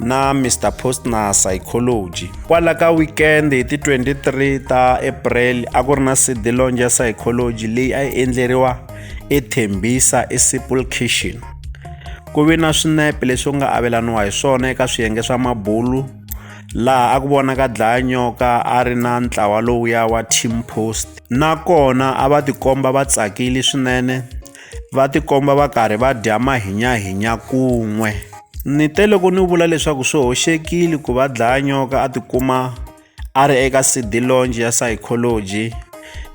na Mr Postner Psychology. Kwala ka weekend hi ti 23 ta April a ku ri na CD launch ya Psychology leyi a yi endleriwa eThembisa eSipple Kitchen. Ku ve na swinepe leswi u nga avelaniwa hi swona eka swiyenge swa mabulu laha a ku vonaka dlaya nyoka a ri na ntlawa lowuya wa Team Post nakona a va tikomba va tsakile swinene va tikomba va karhi va dya mahinyahinya kun'we ni te loko ni vula leswaku swi hoxekile ku va dlaya nyoka a tikuma a ri eka cd longe ya psychology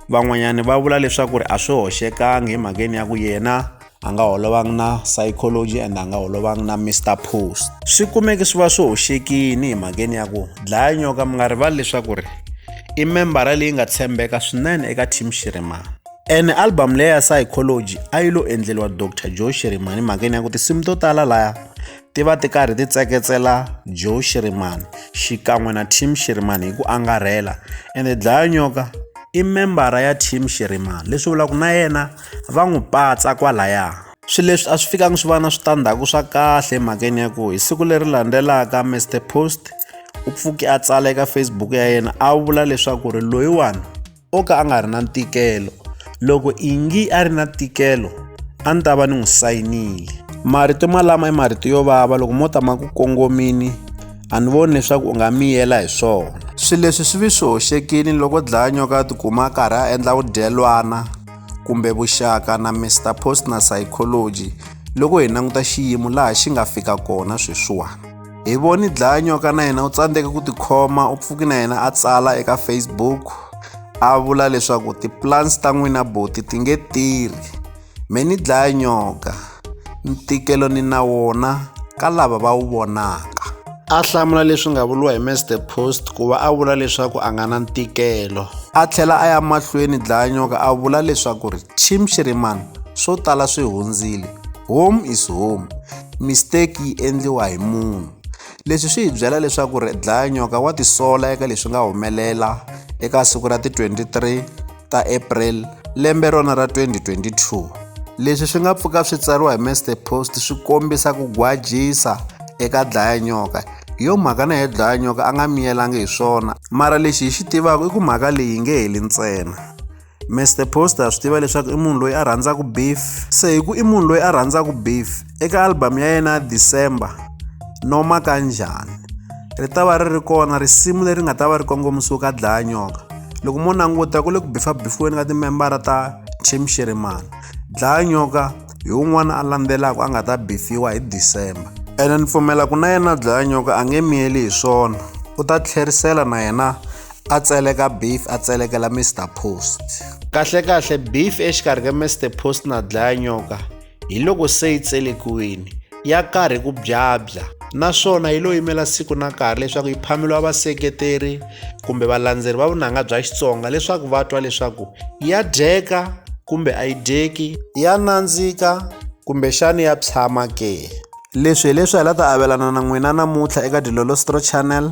van'wanyana va vula leswaku ri a swi hoxekangi hi mhakeni ya ku yena a nga holovangi na psychology and a nga holovangi na mr post swi kumeke swi va swi hoxekini hi mhakeni ya ku dlaya nyoka mi nga rivali leswaku ri i membara leyi nga tshembeka swinene eka team xirimana ene album leyi ya psychology a yi lo endleriwa dr joe shirimani mhakeni ya ku tinsimu to tala laya ti va ti karhi ti tseketsela joe shirimani xikan'we na team shirimani hi ku angarhela ende dlaya nyoka i membara ya team shirimani leswi vulaka na yena va n'wi patsa kwalaya swilo leswi a swi fikangi swi va na switandzhaku swa kahle emhakeni ya ku hi siku leri landzelaka mr post u pfuke a tsala eka facebook ya yena a vula leswaku ri loyiwani o ka a nga ri na ntikelo loko ingi a ri na ntikelo a ni ta va ni n'wi sayinile marito malama i marito yo vava loko mo ta ma ku kongomini a ni voni leswaku u nga miyela hi swona swilo leswi swi vi swi hoxekile loko dlaya nyoka a tikuma a karhi a endla vudyelwana kumbe vuxaka na mr post na psychology loko hi languta xiyimo laha xi nga fika kona sweswiwani hi voni dlaya nyoka na yena u tsandzeke ku tikhoma u pfuki na yena a tsala eka facebook a vula leswaku tiplans ta n'wina boti ti nge tirhi me ni dlaya nyoka ntikelo ni na wona ka lava va wu vonaka a hlamula leswi nga vuriwa hi mr post ku va a vula leswaku a nga na ntikelo a tlhela a ya mahlweni dlayanyoka a vula leswaku ri chim xirimani swo tala swi hundzile home is home mistake yi endliwa hi munhu leswi swi hi byela leswaku ri dlaya nyoka wa tisola eka leswi nga humelela eka siku ra ti 23 ta april lembe rona ra 2022 leswi swi nga pfuka swi tsariwa hi master post swi kombisa ku gwajisa eka dlaya nyoka hi yo mhaka na hi dlaya nyoka a nga miyelangi hi swona mara lexi hi xi tivaka i ku mhaka leyi nge heli ntsena Mr Poster a swi tiva leswaku i munhu loyi a rhandzaka beef se hi ku i munhu loyi a rhandzaka beef eka album ya yena December noma kanjhani ri ta va ri ri kona risimu leri nga ta va ri kongomisiwe ka dlaya nyoka loko mo languta ku le ku bifabifiweni ka timembara ta team shirimani dlaya nyoka hi un'wana a landzelaka a nga ta bifiwa hi December ene ni pfumela ku na yena dlaya nyoka a nge miyeli hi swona u ta tlherisela na yena a tseleka beef a tselekela mr post kahlekahle beef exikarhi ka mr post na dlaya nyoka hi loko se yi tselekiwini ya karhi ku byabya naswona yi lo yimela siku na nkarhi leswaku yi phameliwa vaseketeri kumbe valandzeri va vunanga bya xitsonga leswaku va twa leswaku ya dyeka kumbe a yi dyeki ya nandzika kumbexani ya tshama ke leswi hi leswi hi la ta avelana na n'wina namuntlha eka dilolostro channel